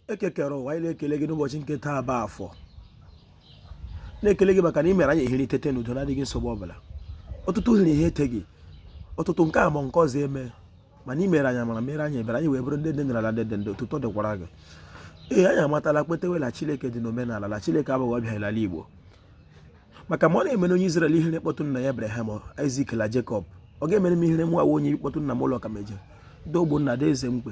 Eke kere ụwa anyị na-ekele gị n'ụbọchị nke taa bụ afọ na-ekele gị maka na ị mere anyị ehiri tete n'udo na-adịghị nsogbu ọbụla ọtụtụ hiri ihe eteghị ọtụtụ nke a ma nke ọzọ eme mana ị meere anyị amara meere anyị ebere anyị wee bụrụ ndị dị n'ala ndị dị ndụ otuto dịkwara gị ee anyị amatala kwetewe na Chineke dị n'omenala na Chineke abụghị ọbịa n'ala Igbo maka ma ọ na-emere onye Izrel ihe e kpọtụ nna ya Abraham Isak na Jekọb ọ ga-emere m ihe mụwa onye kpọtụ nna m ụlọ ka meje dogbo nna dị eze mkpe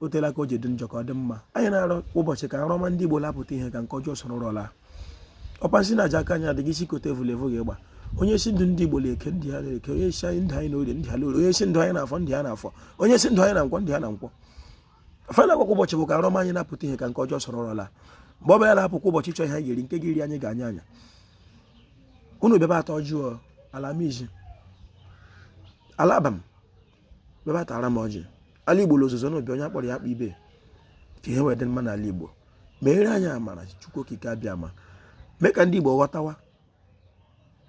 o teela ka o ji dị njọ ka ọ dị mma anyị na-arịọ kwa ụbọchị ka nrọ ọma ndị Igbo la-apụta ihe ka nke ọjọọ soro nrọ laa ọkpa nsi na aja aka anyị adịghị isi kote evu l'evu ga-agba onye sị ndụ ndị Igbo na eke ndụ ha na eke onye sị anyị ndụ anyị na orie ndụ ha na orie onye sị ndụ anyị na afọ ndụ ha na afọ onye sị ndụ anyị na nkwọ ndụ ha na nkwọ fana kwa ụbọchị bụ ka nrọ ọma anyị na-apụta ihe ka nke ọjọọ soro nrọ laa mgbe ọ bụla na-apụ kwa ụbọchị chọọ ihe anyị ga-eri nke ga-eri anyị gaa anya anya unu bịaba ata ọjị ọ ala mizi ala Abam bịaba tara m ọjị ala igbo l'ozuzu na obi onye a kpọrọ ya akpọ ibe ka ihe wee dị mma n'ala igbo meere anyị amara chukwu okike abịama mee ka ndị igbo ghọtawa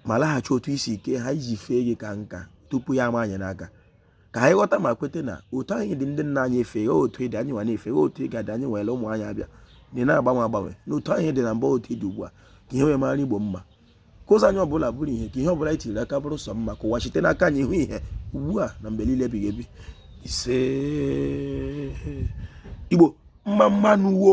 ma laghachi otu i si kee ha iji fee gị ka nka tupu ya ama anyị n'aka ka anyị ghọta ma kweta na otu a ị dị ndị nna anyị efe gị otu ị dị anyị nwa na-efe gị otu ị ga-adị anyị nwere ụmụ anyị abịa dị na-agbanwe agbanwe na otu a ị dị na mbụ otu ị dị ugbu a ka ihe wee mara igbo mma ka ụzọ anyị ọbụla bụrụ ihe ka ihe ọbụla anyị tiri aka bụrụ sọ mma ka ụwa site n'aka anyị hụ ihe ugbu a na mgbe niile ebighị ebi isee igbo mma mma nụ wo